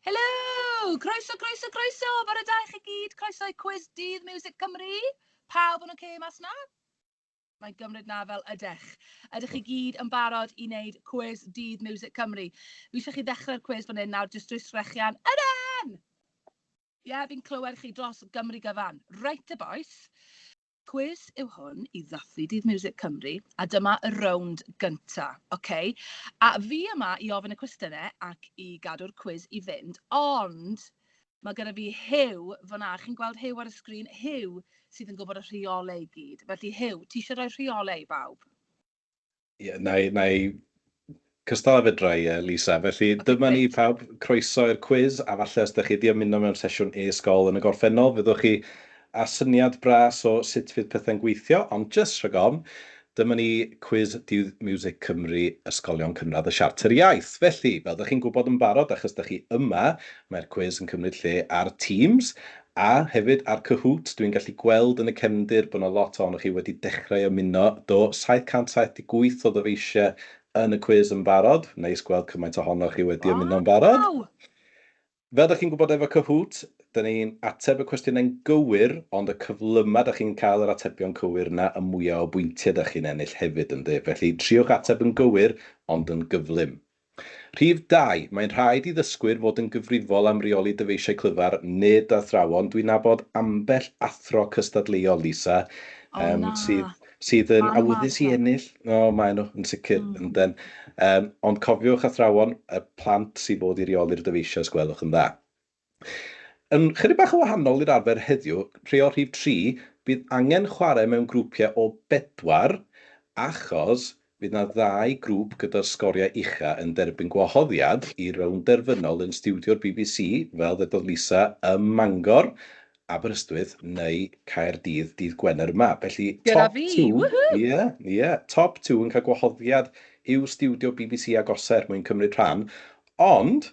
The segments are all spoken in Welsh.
Helo! Croeso, croeso, croeso! Bore da i chi gyd, croeso i Cwis Dydd Miwsig Cymru! Pawb yn ocê mas 'na? Mae'n gymryd 'na fel ydech. Ydych chi gyd yn barod i wneud Cwis Dydd Miwsig Cymru? Fi eisiau chi ddechrau'r cwis fan hyn nawr jyst drwy sgrechian Yden! Ie, fi'n clywed chi dros Gymru gyfan. Reit te bois. Cwis yw hwn i ddathlu Dydd Miwsig Cymru a dyma y rownd gynta', oce? A fi yma i ofyn y cwestiyne ac i gadw'r cwis i fynd, ond ma' gyda fi Huw fan'na, chi'n gweld Huw ar y sgrin? Huw sydd yn gwybod y rheolau i gyd. Felly Huw, ti isie rhoi rheolau i bawb? Ie, na i, na i cystal a fedra i, Lisa. Felly, okay, dyma ni pawb croeso i'r cwiz, a falle os ydych chi wedi ymuno mewn sesiwn e-sgol yn y gorffennol, fyddwch chi a syniad bras o sut fydd pethau'n gweithio, ond jyst rhag ofn, dyma ni cwiz Dydd Music Cymru Ysgolion Cynradd y Siarter Iaith. Felly, fel ydych chi'n gwybod yn barod, achos ydych chi yma, mae'r cwiz yn cymryd lle ar Teams, A hefyd ar Kahoot, dwi'n gallu gweld yn y cefndir bod 'na lot ohonoch chi wedi dechrau ymuno. Do, 778 o ddyfeisiau yn y cwis yn barod. Neis gweld cymaint ohonoch chi wedi ymuno'n barod. Waw! Fel 'da chi'n gwybod efo Kahoot, 'da ni'n ateb y cwestiynau'n gywir, ond y cyflymau 'da chi'n cael yr atebion cywir 'na, y mwya' o bwyntiau 'da chi'n ennill hefyd, ynde? Felly, triwch ateb yn gywir, ond yn gyflym. Rhif dau, mae'n rhaid i ddysgwyr fod yn gyfrifol am reoli dyfeisiau clyfar, nid athrawon. Dwi'n nabod ambell athro cystadleuol, Lisa, O yym, na! sydd sydd yn Maen nhw mor awyddus i ddrwg. ennill. O, maen nhw, yn sicr, Mm. ynden. Yym, ond cofiwch, athrawon, y plant sydd fod i reoli'r dyfeisiau, os gwelwch yn dda. Yn chydig bach yn wahanol i'r arfer heddiw, rhei o'r rhif tri, bydd angen chwarae mewn grwpiau o bedwar achos bydd 'na ddau grŵp gyda'r sgoriau ucha yn derbyn gwahoddiad i rownd derfynol yn stiwdio'r bbc, fel ddedodd Lisa, ym Mangor, Aberystwyth neu Caerdydd dydd Gwener yma. Felly, Gyda fi! Woohoo! Ie, ie, top two yn cael gwahoddiad i'w stiwdio bbc agosaf er mwyn cymryd rhan, ond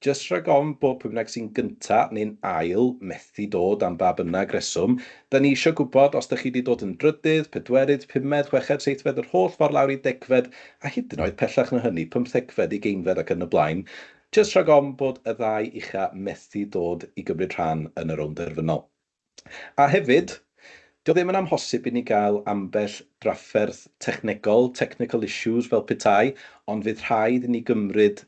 Jyst rhag ofn bod pwy bynnag sy'n gynta neu'n ail methu dod am ba bynnag reswm, 'da ni isio gwybod os 'da chi 'di dod yn drydydd, pedwerydd, pumed, chweched, seithfed yr holl ffordd lawr i degfed a hyd yn oed pellach na hynny, pymthegfed, ugeinfed ac yn y blaen, jyst rhag ofn bod y ddau ucha' methu dod i gymryd rhan yn y rownd derfynol. A hefyd, 'di o ddim yn amhosib i ni gael ambell drafferth technegol, technical issues fel petai, ond fydd rhaid i ni gymryd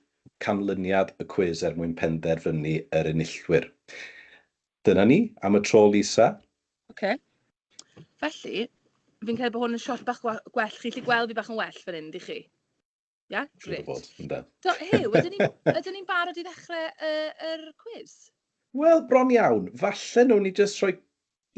canlyniad y cwis er mwyn penderfynu yr enillwyr. Dyna ni am y tro, Lisa. Ok. Felly, fi'n credu bod hwn yn shot bach gwell. Chi'n gallu gweld fi bach yn well fan hyn, dych chi? Ia, grêt. Bod, ynda. Do, Huw, ydyn ni'n ydyn ni barod i ddechrau uh, yr cwiz? Wel, bron iawn. Falle nhw'n ni jyst rhoi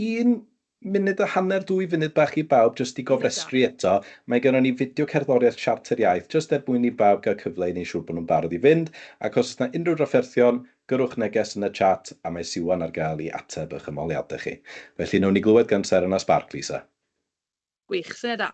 un munud a hanner, dwy funud bach i bawb jyst i gofrestru eto. Mae gennym ni fideo cerddoriaeth Siarter Iaith jyst er mwyn i bawb gael cyfle i wneud siŵr bod nhw'n barod i fynd, ac os oes yna unrhyw drafferthion, gyrrwch neges yn y chat a mae Siwan ar gael i ateb eich ymholiadau chi. Felly, wnawn ni glywed gan Seren a Sbarc, Lisa. Gwych, syniad da.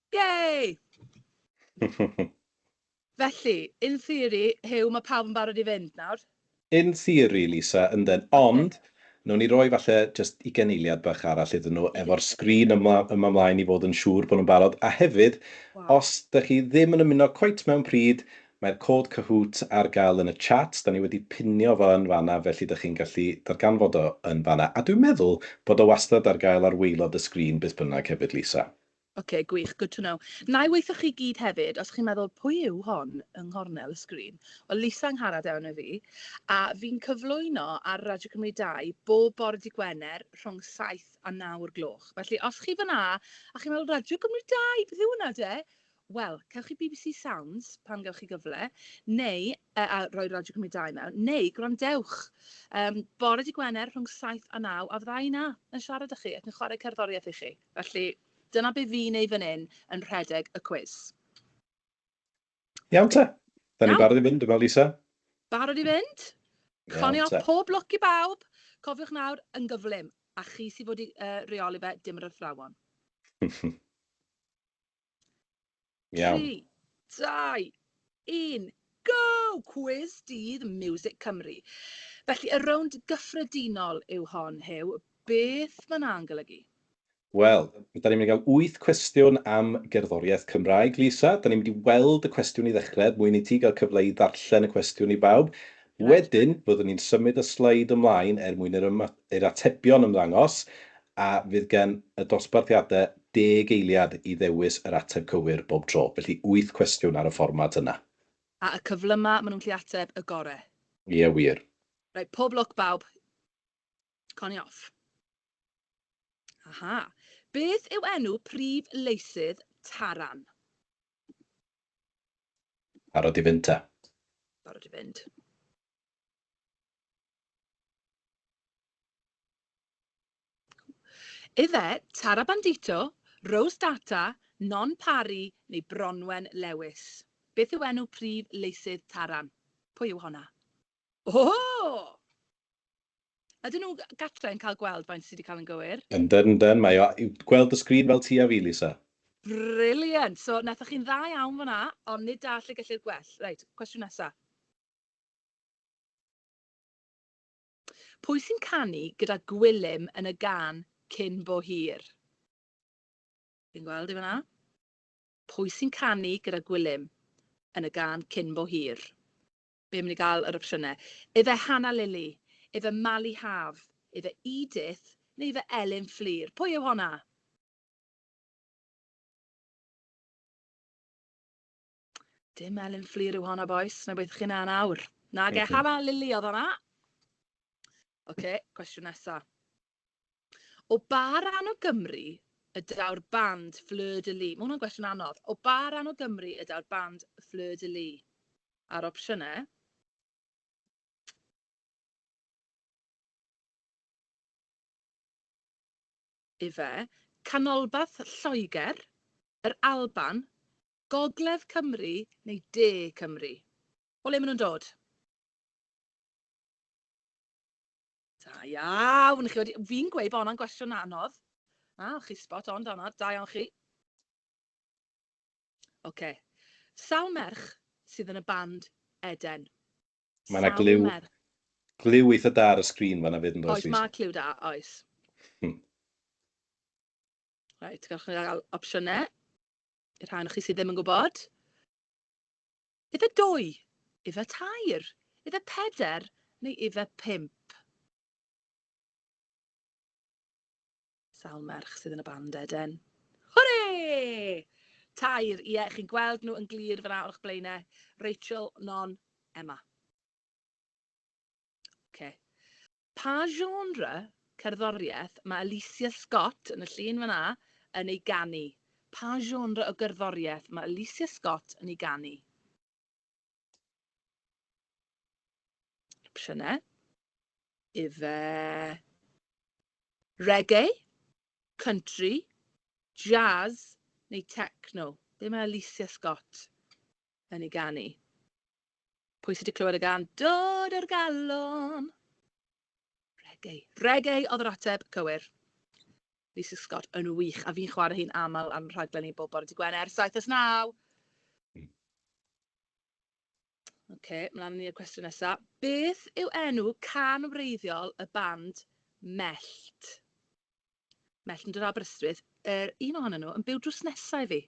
Yay! Felly, in theory, Huw, mae pawb yn barod i fynd nawr? In theory, Lisa, ynden. Ond, wnawn ni roi falle jyst ugain eiliad bach arall iddyn nhw efo'r sgrin yma ymlaen i fod yn siŵr bod nhw'n barod. A hefyd, os dych chi ddim yn ymuno cweit mewn pryd, mae'r cod Kahoot ar gael yn y chat. Da ni wedi pinio fo yn fan'na, felly dych chi'n gallu darganfod o yn fan'na. A dwi'n meddwl bod o wastad ar gael ar waelod y sgrin beth bynnag hefyd, Lisa. Ok, gwych, good to know. Wna i weithio chi gyd hefyd, os chi'n meddwl pwy yw hon yng nghornel y sgrin? Wel, Lisa Angharad yw fi, a fi'n cyflwyno ar Radio Cymru 2 bob bore dy' Gwener rhwng saith a naw o'r gloch. Felly, os chi fan'na a chi'n meddwl Radio Cymru 2, beth yw hwnna de? Wel, cewch chi bbc Sounds pan gewch chi gyfle, neu, yy a rhoi Radio Cymru 2 mewn, neu gwrandewch yym bore dy' Gwener rhwng saith a naw a fydda i 'na yn siarad â chi ac yn chwarae cerddoriaeth i chi. Felly, dyna be fi'n neud fan hyn yn rhedeg y cwis. Iawn te. Da ni'n barod i fynd, dwi'n meddwl, Lisa. Barod i fynd. Coni off pob lwc i bawb. Cofiwch nawr, yn gyflym. A chi sy'n fod i uh, reoli fe, dim yr athrawon. Iawn. 3, 2, 1, go! Cwis dydd Music Cymru. Felly, y rownd gyffredinol yw hon, Huw. Beth mae hwnna'n golygu? Wel, da ni'n mynd i gael wyth cwestiwn am gerddoriaeth Cymraeg, Lisa. Da ni'n mynd i weld y cwestiwn i ddechrau, er mwyn i ti gael cyfle i ddarllen y cwestiwn i bawb. Wedyn, fyddwn ni'n symud y sleid ymlaen er mwyn i'r atebion ymddangos, a fydd gen y dosbarthiadau Deg eiliad i ddewis yr ateb cywir bob tro, felly wyth cwestiwn ar y fformat yna. A y cyflyma ma nhw'n gallu ateb y gore. Ie wir. Reit, pob lwc bawb. Connie off. Aha. Beth yw enw prif leisydd Taran? Barod i fynd ta? Barod i fynd. Ife, Tara Bandito, Rose Data, Non Parry neu Bronwen Lewis? Beth yw enw prif leisydd Taran? Pwy yw honna? O! Ydyn nhw gatre yn cael gweld faint sydd wedi cael yn gywir? Yndan, yndan, mae o i'w gweld y sgrin fel ti a fi, Lisa. Brilliant! So, wnaethoch chi'n dda iawn fan'na, ond nid da lle gellir gwell. Reit, cwestiwn nesa. Pwy sy'n canu gyda Gwilym yn y gân 'Cyn Bo Hir'? Chi'n gweld i fan'na? Pwy sy'n canu gyda Gwilym yn y gân 'Cyn Bo Hir'? Be am ni gael yr opsiynau? Ife Hannah Lily, ife Mali Haf, ife Edith neu ife Elin Fflur? Pwy yw honna? Dim Elin Fflur yw honna, boys. Na beth chi'n na nawr. Na ge, Hana Lili oedd honna. Oce, okay, cwestiwn nesa. O ba ran o Gymru y daw'r band Fleur de Lis? Mae hwnna'n gwestiwn anodd. O ba ran o Gymru y daw'r band Fleur de Lis? A'r opsiynau? Ife, canolbarth Lloegr, yr Alban, Gogledd Cymru neu De Cymru? O le maen nhw'n dod? Da iawn! Chi wedi... Fi'n gweud bod hwnna'n gwestiwn anodd. Na, chi spot on da hwnna. Da iawn chi. Oce. Okay. Sawl merch sydd yn y band Eden? Mae yna glyw, glyw eitha da ar y sgrin fanna fyd yn dod. Oes, mae clyw da, oes. Hmm. Rhaid, gallwch chi gael opsiynau. y rhan o chi sydd ddim yn gwybod, ife dwy, ife tair, ife peder neu ife pimp? Sawl merch sydd yn y band eden? Hwre! Tair, ie, yeah, chi'n gweld nhw yn glir fyna o'ch blaenau. Rachel, Non, Emma. OK. Pa genre cerddoriaeth mae Alicia Scott, yn y llun fan 'na, yn ei ganu? Pa genre o gerddoriaeth mae Alicia Scott yn ei ganu? Opsiynau. Ife reggae, country, jazz neu techno? Be mae Alicia Scott yn ei ganu? Pwy sydd wedi clywed y gan Dod o'r Galon? Reggae. Reggae oedd yr ateb cywir. Lisa Scott yn wych, a fi'n chwarae hi'n aml ar rhaglen i bob bore dy Gwener, 7 as 9. Mm. OK, mlaen ni'r cwestiwn nesaf. Beth yw enw can wreiddiol y band Mellt? Melltn yr Aberystwyth, yr un ohonyn nhw yn byw drws nesa i fi.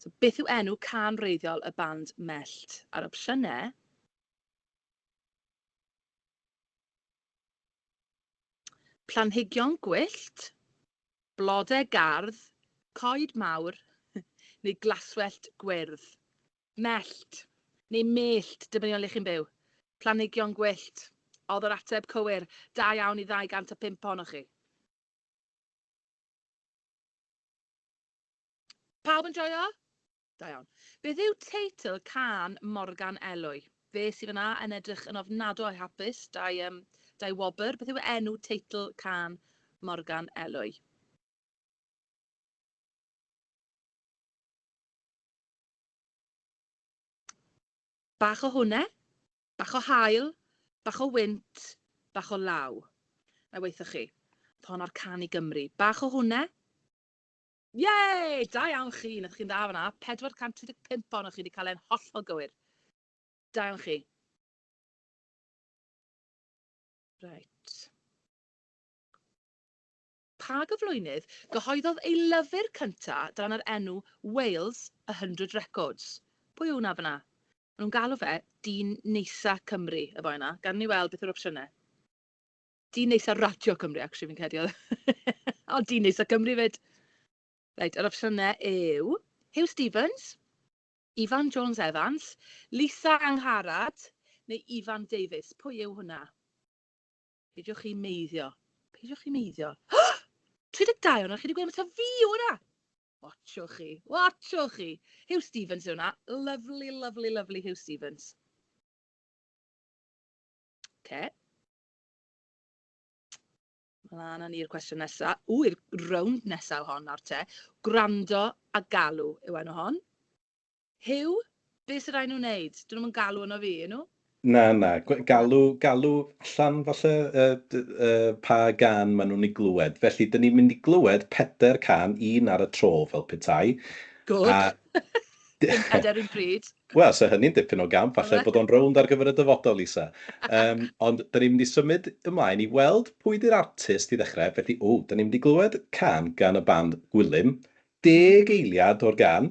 So, beth yw enw can wreiddiol y band Mellt? A'r opsiynau... Planhigion gwyllt, blodau gardd, coed mawr neu glaswellt gwyrdd. Mellt, neu mellt, dibynnu o le chi'n byw. Planhigion gwyllt. Oedd yr ateb cywir. Da iawn i 205 ohonoch chi. Pawb yn joio? Da iawn. Beth yw teitl cân Morgan Elwy? Fe sy fan'na yn edrych yn ofnadw o hapus, da'i yym da'i wobr. Beth yw enw teitl cân Morgan Elwy? Bach o hwne, bach o haul, bach o wynt, bach o law. Na i waetho chi. Oedd hon ar Can i Gymru. Bach o hwne. Yay! Da iawn chi, wnaethoch chi'n dda fanna. 435 ohonoch chi wedi cael e'n hollol gywir. Da iawn chi. Right. Pa gyflwynydd gyhoeddodd ei lyfr cynta dan yr enw Wales, a Hundred Records? Pwy yw hwnna fan'na? Maen nhw'n galw fe dyn neisa Cymru, y boi yna. Gad i ni weld beth yw'r opsiynau. Dyn neisa Radio Cymru, actually, fi'n credu oedd. O, dyn neisa Cymru 'fyd! Reit, yr opsiynau yw Huw Stephens, Ifan Jones Evans, Lisa Angharad neu Ifan Davies. Pwy yw hwnna? Peidiwch chi meiddio. Peidiwch chi meiddio. 32 o'na, chi wedi gweud am ta fi o'na! Watchwch chi, watchwch chi. Hugh Stevens yw hwnna. Lovely, lovely, lovely Hugh Stevens. Okay. Mlaen â ni'r cwestiwn nesaf. Ww, i'r rownd nesaf hon nawr te. Gwrando a galw yw enw hon. Huw, be sy rai nhw wneud? Dyn nhw'm yn galw yno fi, y'n nhw? Na, na, galw, galw allan falle uh, uh, pa gan maen nhw'n ei glywed. Felly, dyn ni'n mynd i glywed peder can, un ar y tro fel petai. Gwrdd. A... Dim peder un pryd. Wel, so hynny'n dipyn o gamp, falle bod o'n rownd ar gyfer y dyfodol, Lisa. Um, ond da ni'n mynd i symud ymlaen i weld pwy di'r artist i ddechrau. Felly, o, da ni'n mynd i glywed can gan y band Gwilym, Deg eiliad o'r gan,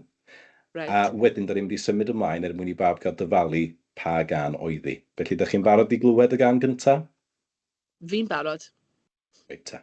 a Reit. wedyn da ni'n mynd i symud ymlaen er mwyn i bawb gael dyfalu pa gan oedd hi. Felly, da chi'n barod i glywed y gan gynta? Fi'n barod. Reit te.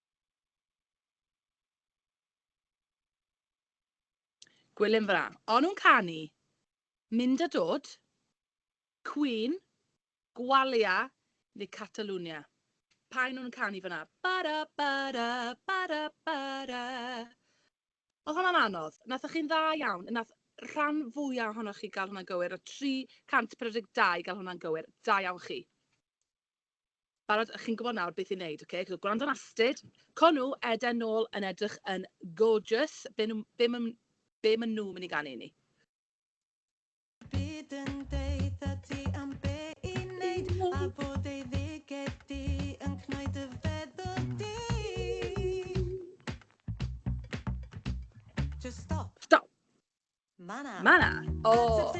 Gwilym fana. O'n nhw'n canu Mynd a Dod, Queen, Gwalia neu Catalunya? Pa un o'n nhw'n canu fana? Ba-da, ba-da, ba-da, ba-da. Oedd hwnna'n anodd? Nathoch chi'n dda iawn? Nath rhan fwya ohonoch chi gael hwnna'n gywir? Nath 342 gael hwnna'n gywir? Da iawn chi. Barod? Chi'n gwybod nawr beth i wneud, ok? Chi'n gwrando ar Astrid. Co nhw, Eden nôl yn edrych yn gorgeous. Be, nhw, be, ma, be maen nhw'n mynd i ganu i ni? Byd yn deitha ti am be i wneud a bod ei ddiged di yn cnoi dy feddwl di. Just stop. Stop. Ma' 'na. Ma' 'na. O!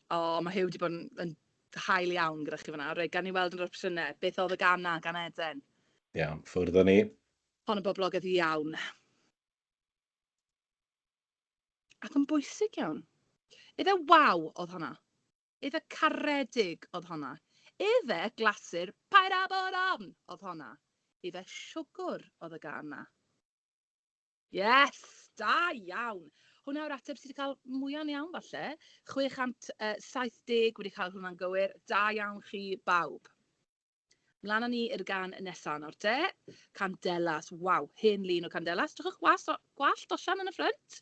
O, ma' Huw 'di bod yn yn hael iawn gyda chi fan'na. Reit, gawn ni weld yn yr opsiyne, beth o'dd y gân 'na gan Eden? Iawn, ffwrdd â ni. Hon yn boblogedd iawn. Ac yn bwysig iawn. Ife 'waw' o'dd honna? Efe caredig oedd honna. Efe glasur paid a bod ofn oedd honna. Efe siwgwr oedd y gân 'na. Yes! Da iawn! Hwnna yw'r ateb sydd wedi cael mwyaf yn iawn falle. 670 wedi cael hwnna'n gywir. Da iawn chi bawb. Mlaen â ni i'r gan nesaf nawr te. Candelas. Waw, hen lun o Candelas. Drychwch was, gwallt osian yn y ffrynt.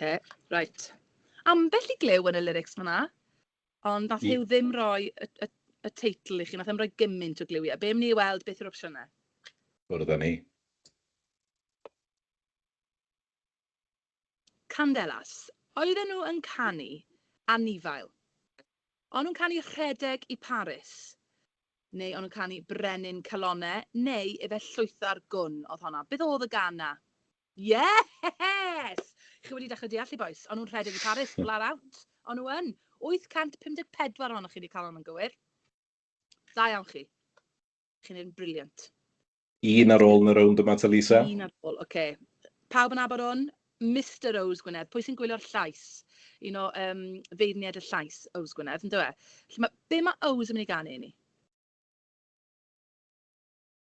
Oce, reit. Ambell i glyw yn y lyrics fan'na, ond nath Huw ddim roi y, y, y teitl i chi, nath ddim roi gymaint o glywiau. Be am ni weld beth yw'r opsiynau? Bwrdd â ni. Candelas. Oedden nhw yn canu anifail. O'n nhw'n canu rhedeg i Paris, neu o'n nhw'n canu brenin calonau, neu efe llwytha'r gwn oedd honna. Beth oedd y gan na? Yes! Chi wedi dechrau deall chi bois? O'n nhw'n rhedeg i Paris, flat out. O'n nhw yn. 854 ohonoch chi wedi cael hon yn gywir. Da iawn chi. Chi'n un briliant. Un ar ôl yn y rownd yma ta Lisa? Un ar ôl, oce. Pawb yn abod hwn? Mister Ows Gwynedd, pwy sy'n gwylio'r llais? Un o um, feirniaid y llais, Ows Gwynedd, yn dweud. Felly, ma, be mae Ows yn mynd i ganu i ni?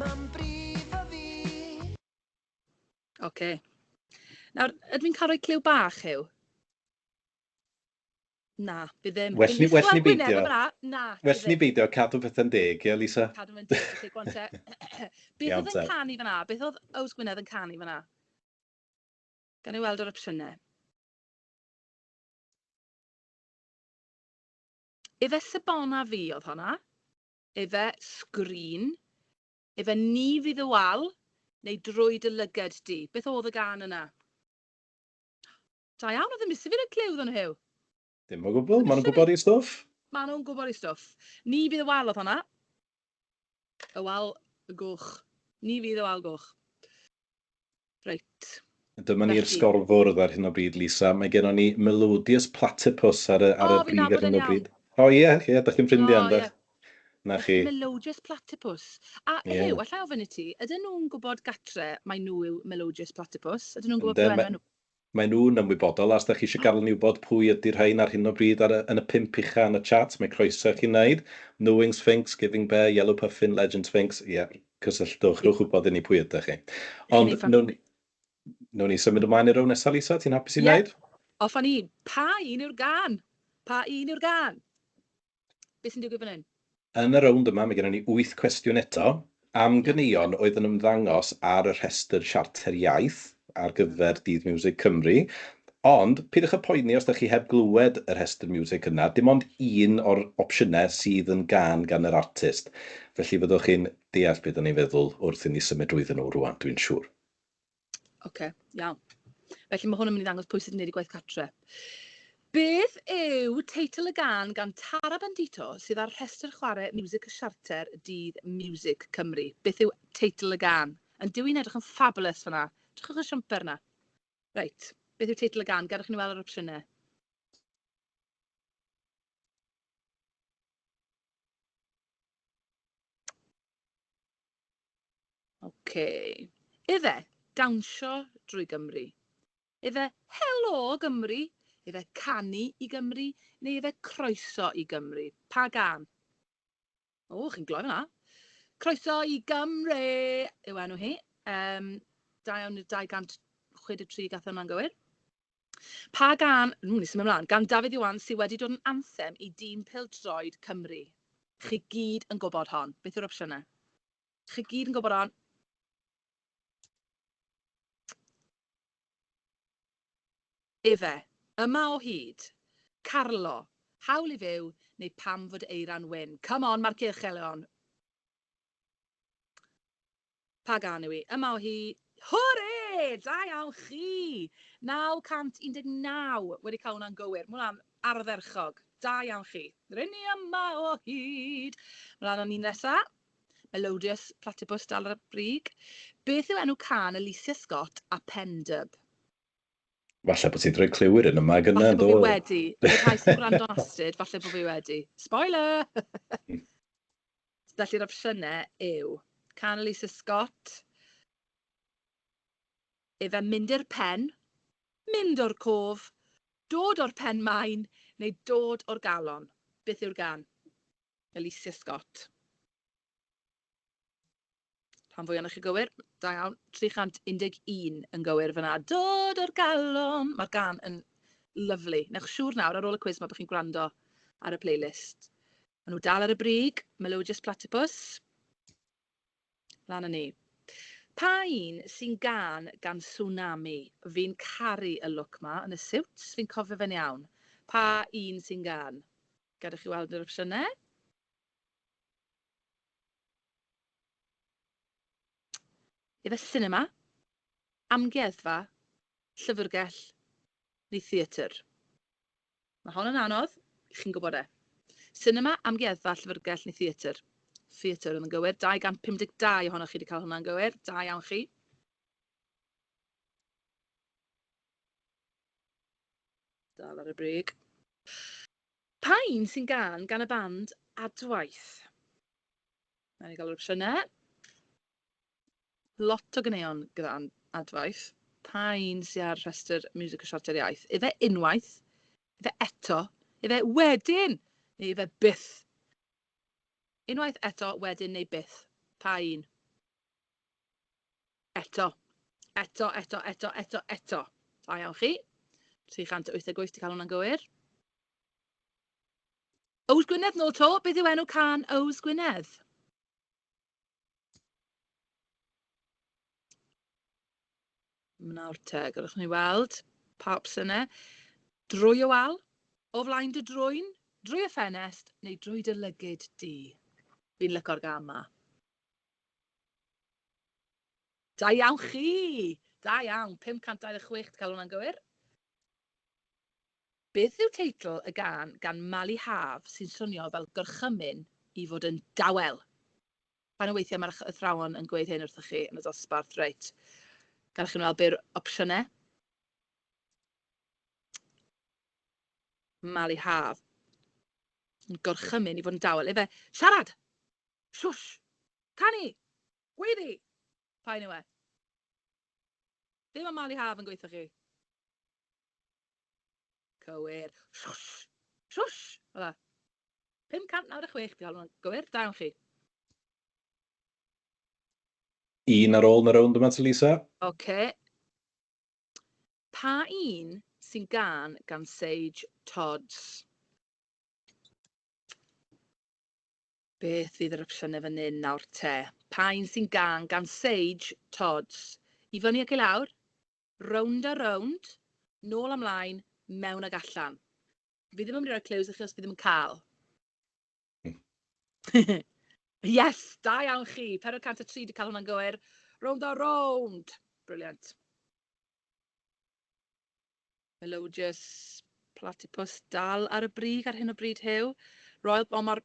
Mam brifo fi. Ok. Nawr, ydw i'n cael rhoi clyw bach, Huw? Na, fi ddim. Well ni, well ni beidio. Na, well ni beidio cadw pethau'n deg, ie, Lisa? Cadw fe'n deg, felly, gwan te. Beth oedd yn canu fyna? Beth oedd Ows Gwynedd yn canu fyna? Gan i weld yr opsiynau. Ife Sebona fi oedd hwnna? Efe, sgrin. Efe, ni fydd y wal, neu drwy dy lyged di. Beth oedd y gân yna? Da iawn, oedd yn misu fi roi clyw iddyn nhw. Dim o gwbl, maen nhw'n gwybod i stwff. Maen nhw'n gwybod i stwff. Ni fydd y wal oedd honna. Y wal goch. Ni fydd y wal goch. Reit. Dyma ni'r sgorfwrdd ar hyn o bryd, Lisa. Mae gennon ni Melodious Platypus ar y, ar y brig ar hyn o bryd. O ie, ie, yeah, da chi'n ffrindiau, ynddo? Na chi. Melodious Platypus. A yeah. Ehew, allai ofyn i ti, ydyn nhw'n gwybod gatre mae nhw yw Melodious Platypus? Ydyn nhw'n gwybod beth nhw? Maen nhw'n ymwybodol, a os dach chi eisiau gadael i ni wybod pwy ydy'r rhain ar hyn o bryd ar y, yn y pump ucha yn y chat, mae croeso i chi wneud. Mewing Sphinx, Giving Bear, Yellow Puffin, Legend Sphinx, ie, cysylltwch, rhowch wybod i ni pwy ydych chi. Ond, newn ni, newn ni symud ymlaen i'r row nesaf, Lisa, ti'n hapus i wneud? Ie, off â ni. Pa un yw'r gân? Pa un yw'r gân? Be sy'n digwydd fan hyn? Yn y rownd yma, mae gennym ni wyth cwestiwn eto am ganeuon oedd yn ymddangos ar y rhestr Siarter Iaith ar gyfer Dydd Miwsig Cymru. Ond, peidiwch â phoeni os ydych chi heb glywed y rhestr miwsig yna, dim ond un o'r opsiynau sydd yn gân gan yr artist. Felly fyddwch chi'n deall be 'da ni'n feddwl wrth i ni symud drwyddyn nhw rŵan, dwi'n siŵr. Ocê, iawn. Felly mae hwn yn mynd i ddangos pwy sydd yn gwneud y gwaith catre. Beth yw teitl y gan gan Tara Bandito sydd ar rhestr chwarae Music y Siarter dydd Music Cymru? Beth yw teitl y gan? Yn dyw'n edrych yn fabulous fyna. Drychwch y siamper yna. Reit, beth yw teitl y gan? Gadwch i ni weld yr opsiynau. Oce. Ife, dawnsio drwy Gymru? Ife, helo Gymru? Ife, canu i Gymru? Neu ife, croeso i Gymru? Pa gân? O, chi'n gloi fanna. Croeso i Gymru yw enw hi. Um, da iawn i'r 263 gath hwnna'n gywir. Pa gân, ww ni'n symud mlan, gan Dafydd Iwan sy wedi dod yn anthem i dîm pêl-droed Cymru? Chi gyd yn gwybod hon. Beth yw'r opsiynau? Chi gyd yn gwybod hon. Efe, Yma o hyd, Carlo, Hawl i fyw, neu Pam fod Eira'n wyn? Come on, mae'r cylch elon. Pa gân yw hi? Yma o hi! Hwre! Da iawn chi! 919 wedi cael hwnna'n gywir. Mae hwnna'n ardderchog. Da iawn chi. R'yn ni yma o hyd! Mlaen o'n un nesa. Melodious Platypus dal ar y brig. Beth yw enw cân Alicia Scott a Pen Dub? Falle bod ti 'di rhoi cliw i'r un yma gyna, do? Falle bod fi wedi. I'r rhai sy'n gwrando'n astud, falle bod fi wedi. Spoiler! Felly'r opsiynau yw, can Lisa Scott, efe mynd i'r pen, mynd o'r cof, dod o'r pen maen neu dod o'r galon. Beth yw'r gan? Alicia Scott. Rhan fwy ohonoch chi'n gywir, da iawn. 311 yn gywir fan'na. Dod o'r galon! Mae'r gan yn lyfli. Wnewch siŵr nawr ar ôl y cwis ma bod chi'n gwrando ar y playlist. Mae nhw dal ar y brig, Melodious Platypus. Lan yn ni. Pa un sy'n gan gan Tsunami? Fi'n caru y look ma yn y siwt, fi'n cofio fe'n iawn. Pa un sy'n gan? Gadewch i weld yr opsiynau. Efe sinema, amgueddfa, llyfrgell neu theatr? Mae hon yn anodd, chi'n gwybod e. Sinema, amgueddfa, llyfrgell neu theatr? Theatr oedd yn gywir, 252 ohonoch chi wedi cael hwnna'n gywir, da iawn chi. Dal ar y brig. Pa un sy'n gân gan y band Adwaith? Wna i gael yr opsiynau. Lot o ganeuon gyda Adwaith. Pa un sydd ar rhestr Music a Siartiau'r Iaith? Ife unwaith? Ife eto? Ife wedyn? Neu ife byth? Unwaith, eto, wedyn neu byth? Pa un? Eto. Eto, eto, eto, eto, eto. Da iawn chi. 388 di cael hwnna'n gywir. Ows Gwynedd nôl to, beth yw enw can Ows Gwynedd? Mnawr te, gallwch ni weld pa opsiynau. Drwy y wal, o flaen dy drwyn, drwy y ffenest neu drwy dy lygyd di. Fi'n lyco'r gam ma. Da iawn chi! Da iawn! 526 dw i'n cael hwnna'n gywir. Beth yw teitl y gân gan Mali Haf sy'n swnio fel gorchymyn i fod yn dawel? Pan o weithiau mae'r athrawon yn gweud hyn wrthoch chi yn y dosbarth, reit, gadewch i mi weld be yw'r opsiynau. Mali Haf. Yn gorchymyn i fod yn dawel. Ife, siarad! Shush! Canu! Gweiddi! Paun yw e. Dim am malu haf yn gweithoch chi. Cywir. Shush! Shush! Fel 'na. 596, dwi'n hoffi hwnna'n gywir. Da iawn chi. Un ar ôl yn y rownd yma ti Lisa. Ocê. Pa un sy'n gân gan Sage Todds? Beth fydd yr opsiynau fan hyn nawr te? Pa un sy'n gân gan Sage Todds? I fyny ac i lawr? Rownd a rownd? Nôl a mlaen? Mewn ag allan? Fi ddim yn mynd i roi clues i chi os fi ddim yn cael. yes, da iawn chi. 403 wedi cael hwnna'n gywir. Rownd a rownd. Briliant. Melodious Platypus dal ar y brig ar hyn o bryd Huw. Royal, o mae'r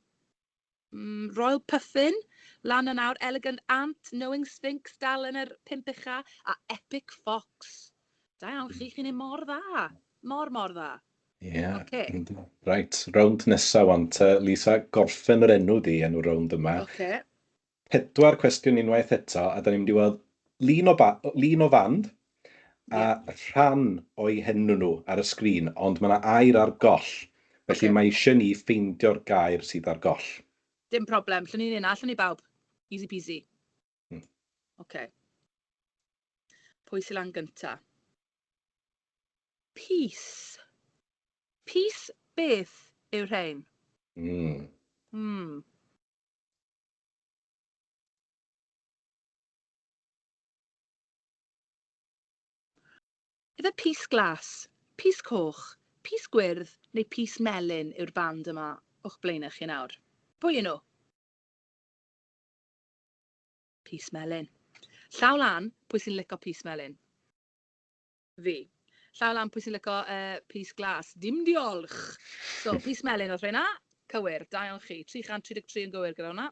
mm, Royal Puffin lan yn awr, Elegant Ant, Knowing Sphinx dal yn yr pimp ucha, a Epic Fox. Da iawn chi, chi'n ei mor dda. Mor, mor dda. Ie. Yeah. Okay. Right, rownd nesaf wan te, Lisa, gorffen yr enw di, enw rownd yma. Okay. Pedwar cwestiwn unwaith eto, a da ni'n mynd i weld lun o, lun o fand a yeah. rhan o'i henw nhw ar y sgrin, ond mae yna air ar goll, felly okay. mae eisiau ni ffeindio'r gair sydd ar goll. Dim problem, llwn ni'n yna, llwn ni bawb. Easy peasy. Hmm. Okay. Pwy sy'n lan gynta? Peace. Peace beth yw rhain? Mm. Mm. Ife Pys Glas, Pys Coch, Pys Gwyrdd neu Pys Melyn yw'r band yma o'ch blaenau chi nawr? Pwy yw nhw? Pys Melyn. Llaw lan, pwy sy'n lico Pys Melyn? Fi. Llaw lan pwy sy'n lyco uh, pys glas. Dim diolch! So, pys melyn oedd rheina. Cywir, da iawn chi. 333 yn gywir gyda hwnna.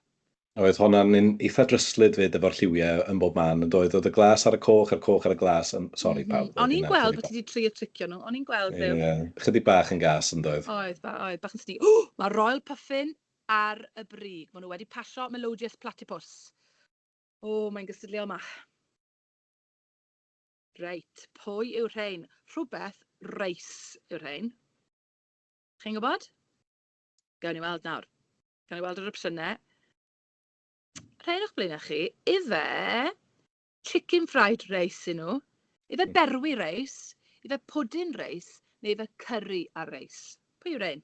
Oedd honna'n un eitha dryslyd fyd efo'r lliwiau yn bob man yn doedd? Oedd y glas ar y coch a'r coch ar y glas. Um, sorry mm -hmm. pawb. O'n i'n gweld bod ti wedi trio tricio nhw. O'n i'n gweld ddew. Yeah. Chydig bach yn gas yn doedd? Oedd, ba, oedd. Bach yn sni. Oh, mae Royal Puffin ar y brig. Mae nhw wedi pasio Melodious Platypus. O, oh, mae'n gystadleuol mach. Reit, pwy yw rhein? Rhywbeth reis yw rhein. Chi'n gwybod? Gawn ni weld nawr. Gawn ni weld yr opsiynau. Rhein o'ch blaenau chi. Ife chicken fried reis i nhw? Ife hmm. berwi reis? Ife pwdin reis? Neu ife curry a reis? Pwy yw rhein?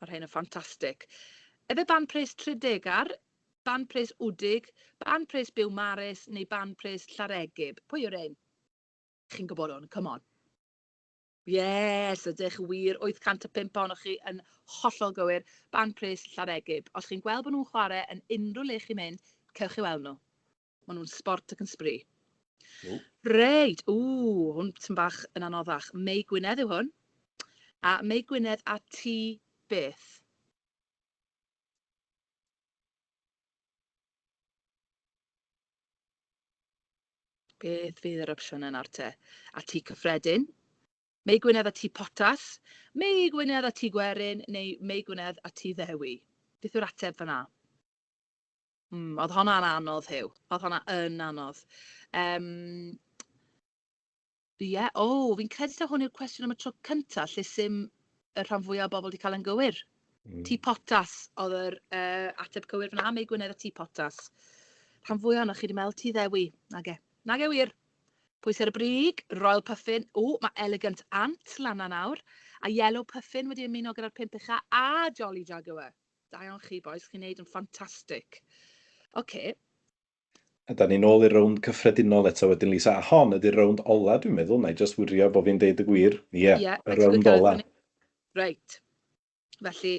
Mae'r rhain yn ffantastig. Efe ban pres Tredegar, ban pres Wdig, ban pres Biwmares neu ban pres Llareggub? Pwy yw'r rhain? Chi'n gwybod hwn, come on. Yes, ydych wir, 805 ohonoch chi yn hollol gywir, ban pres Llareggub. Os chi'n gweld bod nhw'n chwarae yn unrhyw le chi'n mynd, cewch chi weld nhw. Maen nhw'n sbort ac yn sbri. Ww. Reit, ww, hwn ti'n bach yn anoddach. Mei Gwynedd yw hwn. A Mei Gwynedd a ti beth? Beth fydd yr opsiwn yna te? A ti cyffredin? Mei Gwynedd a ti potas? Mei Gwynedd a ti gwerin? Neu Mei Gwynedd a ti ddewi? Beth yw'r ateb fanna? Mm, oedd honna yn anodd, Huw. Oedd honna yn anodd. Um, Ie, yeah. o, oh, fi'n credu ta hwn yw'r cwestiwn am y tro cyntaf lle sy'n y rhan fwyaf o bobl wedi cael yn gywir. Mm. Ti potas oedd yr uh, ateb cywir fyna, Mei Gwynedd a ti potas. Rhan fwyaf yna chi wedi meddwl ti ddewi. Nage. Nage wir. Pwys ar y brig, Royal Puffin, o, mae Elegant Ant lan nawr, a Yellow Puffin wedi ymuno gyda'r pimp ucha a Jolly Jaguar. Da iawn chi bois, chi'n neud yn ffantastic. Ocê. A da ni'n ôl i'r rownd cyffredinol eto wedyn Lisa, a hon ydi'r rownd ola dwi'n meddwl, wna i jyst wirio bo fi'n deud y gwir, ie, y rownd ola. Reit, felly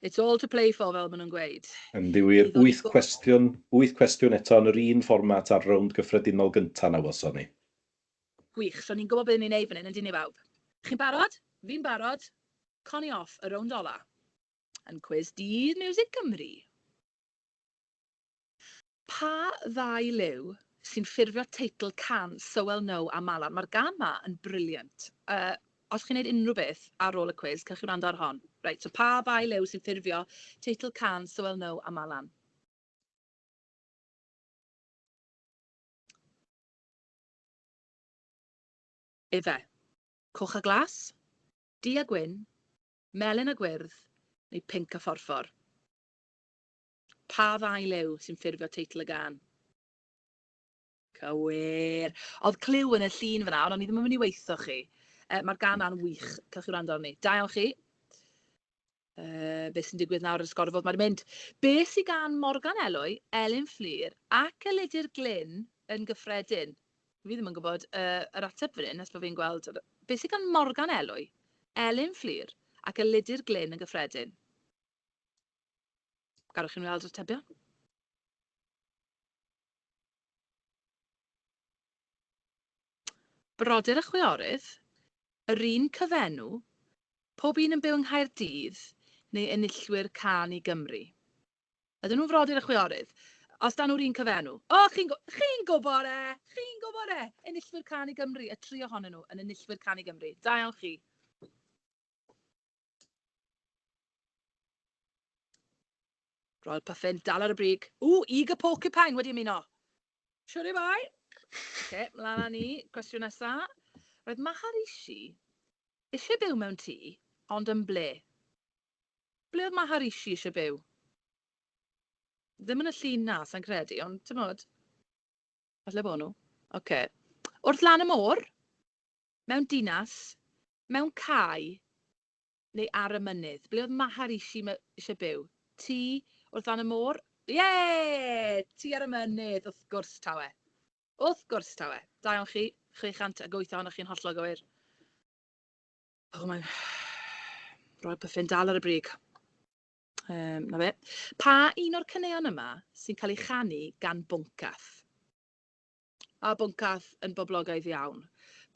it's all to play for fel ma nhw'n gweud. Yndi wir, wyth cwestiwn, wyth cwestiwn eto yn yr un fformat a'r rownd gyffredinol gynta na welson ni. Gwych, so ni'n gwybod be ni'n neud fan hyn, yndyn ni bawb? Chi'n barod? Fi'n barod. Connie off y rownd ola. Yn cwis Dydd Miwsig Cymru. Pa ddau liw sy'n ffurfio teitl can So Well Know a Malar? Mae'r gân 'ma yn brilliant. Yy, os chi'n neud unrhyw beth ar ôl y cwis, cewch chi wrando ar hon. Reit, so pa ddau liw sy'n ffurfio teitl can So Well Know a Malar? Efe. Coch a Glas? du a gwyn, melyn a gwyrdd neu pinc a phorffor? Pa ddau liw sy'n ffurfio teitl y gân? Cywir! Oedd cliw yn y llun fyna, ond o'n i ddim yn mynd i waetho chi. Mae'r gân yna'n wych, cewch chi wrando arni. Da iawn chi. uh, beth sy'n digwydd nawr yn sgor fod mae'n mynd. Be sy'n gan Morgan Elwy, Elin Fflir ac Elidir Glyn yn gyffredin? Fi ddim yn gwybod uh, yr ateb fan hyn, nes bod fi'n gweld be sy'n gan Morgan Elwy, Elin Fflir ac Elidir Glyn yn gyffredin. Garwch chi'n weld yr atebion? Brodyr a chwiorydd, yr un cyfenw, pob un yn byw yng Nghaerdydd neu enillwyr Cân i Gymru. Ydyn nhw'n frodyr a chwiorydd? Os dan nhw'r un cyfenw. O, chi'n gw-, chi'n gwybod e! Chi'n gwybod e! Enillwyr Cân i Gymru, y tri ohonyn nhw yn enillwyr Cân i Gymru. Da iawn chi. Royal Puffin, dal ar y brig. O, Eager Porcupine wedi ymuno. Siwr i bai. Oce, mlaen â ni. Cwestiwn nesa. Roedd Maharishi eisiau byw mewn tŷ, ond yn ble? Ble oedd Maharishi eisiau byw? Ddim yn y llun na, sa'n credu, ond ti'n modd. Falle bod nhw. Oce. Wrth lan y môr. Mewn dinas, mewn cae, neu ar y mynydd? Ble oedd Maharishi eisiau byw? Tŷ wrth fan y môr? Ie! Tŷ ar y mynydd, wrth gwrs tawe. Wrth gwrs tawe. Da iawn chi, 608 ohonoch chi yn hollol gywir. O, mae'n roi'r pyffin dal ar y brig. Um, na fe. Pa un o'r caneuon yma sy'n cael ei chanu gan Bwncath? A Bwncath yn boblogaidd iawn.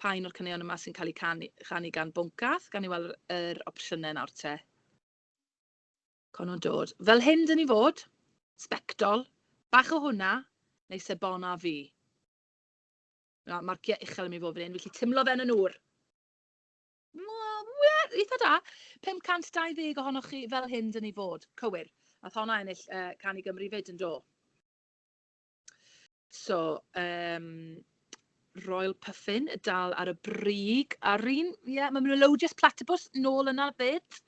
Pa un o'r caneuon yma sy'n cael eu canu, chanu gan Bwncath? Gawn ni weld yr, yr opsiynau nawr te. Con o'n dod. Fel hyn dyn ni fod. Sbectol. Bach o hwnna. Neu sebona fi. Mae marciau uchel yn mynd i fod fan hyn, felly tymlo fe'n yn ŵr. Eitha da. 520 ohonoch chi fel hyn dyn ni fod. Cywir. Ath honna ennill uh, Cani Gymru fyd yn do. So, um, Royal Puffin, dal ar y brig ar un. Ie, yeah, mae Melodious Platypus nôl yna fyd.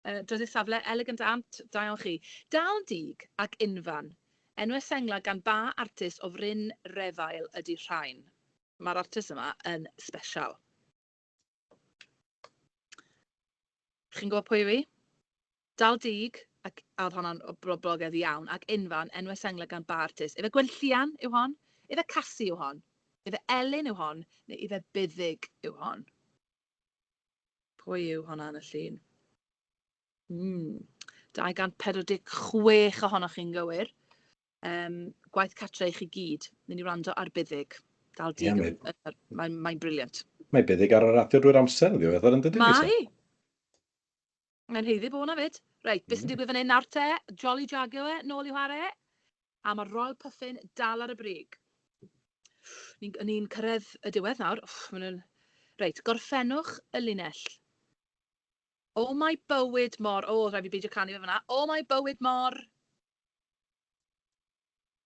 Uh, Drydydd safle, Elegant Ant, da iawn chi. Dal dig ac unfan. Enwau sengla gan ba artist o fryn refael ydy rhain. Mae'r artist yma yn special. Chi'n gwybod pwy yw i? Dal Dug, ac a oedd honna'n boblogaidd iawn, ac Unfan, enwau senglau gan ba artist? Ife Gwenllian yw hon? Ife Casi yw hon? Ife Elin yw hon? Neu ife Buddig yw hon? Pwy yw honna yn y llun? Mm. 246 ohonoch chi'n gywir. Um, gwaith catra i chi gyd. Nyn ni wrando ar buddig. Dal di. Yeah, Mae'n mae briliant. Mae buddig ar y radio drwy'r amser, ddiw eithaf yn dydy. Mae. Mae'n heiddi bod hwnna fyd. Reit, beth sy'n digwydd fan hyn nawr te? Jolly Jago e, nôl i ware. A mae Royal Puffin dal ar y brig. Ni'n ni cyrraedd y diwedd nawr. Uff, nhw'n... Reit, gorffennwch y linell. O oh, mae bywyd mor... O, oh, rhaid fi beidio canu fe fyna. O oh, mae bywyd mor...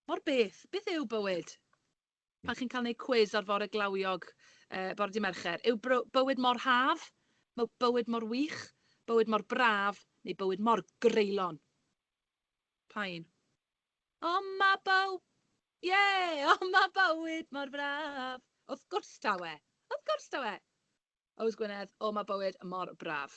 Mor beth, beth yw bywyd? Pan chi'n cael gwneud cwis ar fore glawiog, yy, bore dydd Mercher, yw bywyd mor haf, mae bywyd mor wych, bywyd mor braf, neu bywyd mor greulon? Pa un? O, mae byw... Ie! O, mae bywyd mor braf! Wrth gwrs taw e! Wrth gwrs taw e! Ows Gwynedd, o, mae bywyd mor braf.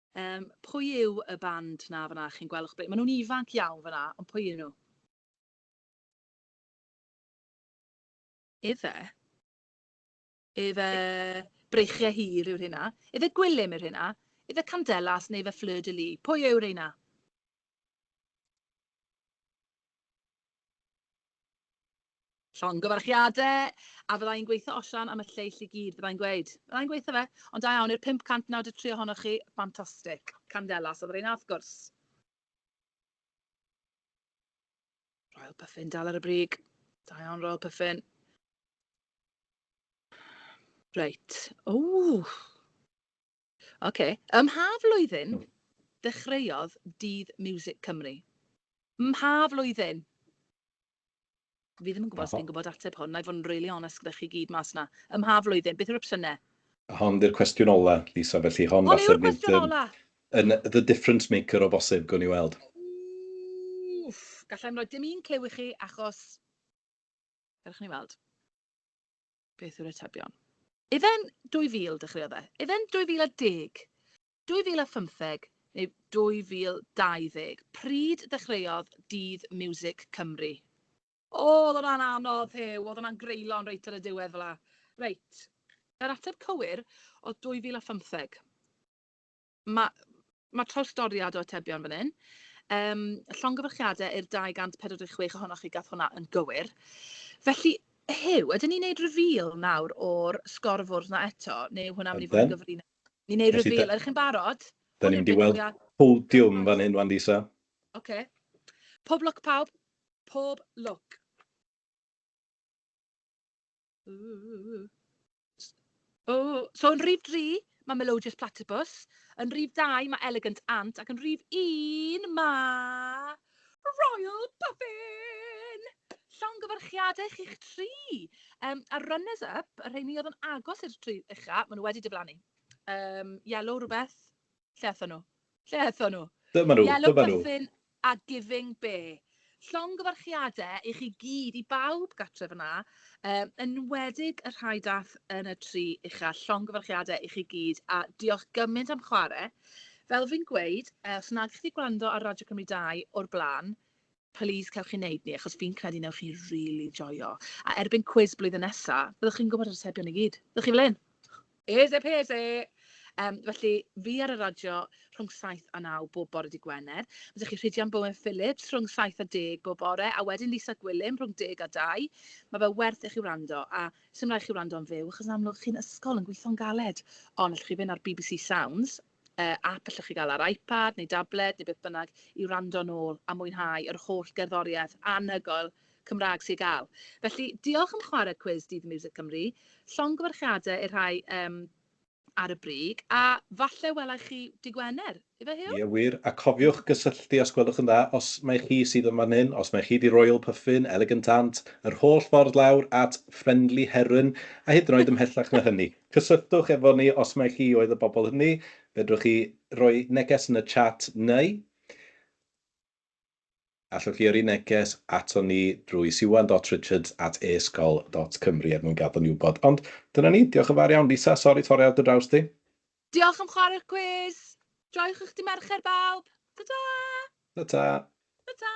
Yym, pwy yw y band 'na fan'na chi'n gweld o'ch blaen? Maen nhw'n ifanc iawn fan'na, ond pwy yw nhw? Efe? Efe Breichiau Hir yw'r hynna? Efe Gwilym yw'r hynna? Efe Candelas neu efe Fleur de Lis? Pwy yw reina? Llongyfarchiadau! A fydda i'n gweitho osian am y lleill i gyd, fydda i'n gweud. Fydda i'n gweitho fe. Ond da iawn i'r 593 ohonoch chi, ffantastig. Candelas oedd y rheina, wrth gwrs. Royal Puffin dal ar y brig. Da iawn, Royal Puffin. Reit. Ww! Ok. Ym mha flwyddyn ddechreuodd Dydd Miwsic Cymru? Ym mha flwyddyn? Fi ddim yn gwybod os fi'n gwybod ateb hwn, na i fod yn really honest gyda chi gyd mas na. Ym mha flwyddyn? Beth yw'r opsiynau? Hon di'r cwestiwn ola, Lisa, felly hon falle... Hon yw'r cwestiwn ola! ...yn the difference maker o bosib, gwn i weld. Wff! Galla i'm rhoi dim un clue i chi achos... Cerwch ni weld. Beth yw'r atebion? Ife'n 2000 dechreuodd e? Ife'n 2010? 2015 neu 2020? Pryd ddechreuodd Dydd Miwsic Cymru? Oedd hwnna'n anodd, Huw. Oedd hwnna'n greulon reit ar y diwedd fel 'na. Reit, yr ateb cywir oedd 2015. Mae ma trawstoriad o atebion fan hyn. Um, llongyfarchiadau i'r 246 ohonoch chi gath hwnna yn gywir. Felly, Hyw, ydyn ni'n neud reveal nawr o'r sgorfwrdd na eto, neu hwnna mynd i fod yn gyfrin? Ni'n neud reveal, ydych chi'n barod? Da ni'n mynd i weld podiwm fan hyn, wan, Lisa. Oce. Okay. Pob lwc pawb, pob lwc. O! So yn rhif dri, mae Melodious Platypus, yn rhif dau, mae Elegant Ant, ac yn rhif un, mae Royal Puffin! Llongyfarchiadau chi'ch tri! Um, a runners up, y rheini oedd yn agos i'r tri ucha, maen nhw wedi diflannu. Um, yellow rhywbeth, Lle athon nhw? Lle athon nhw? Dyma nhw, Yellow dyma nhw. Puffin a Giving Be. Llongyfarchiadau i chi gyd, i bawb gatref yna, um, enwedig y rhai dath yn y tri uchel. Llongyfarchiadau i chi gyd a diolch gymaint am chwarae. Fel fi'n gweud, eh, os nag chi gwrando ar Radio Cymru 2 o'r blaen, Plîs cewch chi wneud ni achos fi'n credu newch chi rili joio. A erbyn cwis blwyddyn nesa, byddwch chi'n gwybod yr atebion i gyd. Byddwch chi fel hyn! Easy peasy! Yym, felly, fi ar y radio rhwng saith a naw bob bore Dydd Gwener. Mae 'da chi Rhidian Bowen Phillips rhwng saith a deg bob bore, a wedyn Lisa Gwilym rhwng deg a dau. Mae fe werth i chi wrando, a sdim rhaid chi wrando'n fyw, achos yn amlwg chi'n ysgol yn gweithio'n galed. Ond allwch chi fynd ar bbc Sounds, app allwch chi gael ar iPad neu dabled neu beth bynnag i wrando nôl a mwynhau yr holl gerddoriaeth anhygoel Cymraeg sy i gael. Felly, diolch am chwarae cwis Dydd Miwsic Cymru. Llongyfarchiadau i'r rhai um, ar y brig, a falle welai chi dy Gwener, ife Huw? Ie, wir, a cofiwch gysylltu os gwelwch yn dda, os mai chi sydd yn fan hyn, os mai chi di Royal Puffin, Elegant Aunt, yr holl ffordd lawr at Friendly Heron, a hyd yn oed ymhellach na hynny. Cysylltwch efo ni os mai chi oedd y bobl hynny, fedrwch chi roi neges yn y chat neu allwch chi yrru neges aton ni drwy siwan.richards at esgol.cymru er mwyn gadw ni wybod. Ond dyna ni, diolch yn fawr iawn. Lisa, sori torri ar dy draws di. Diolch am chwarae'r cwis! Joiwch eich dydd Mercher bawb! Ta-ta! Ta-ta! Ta-ta!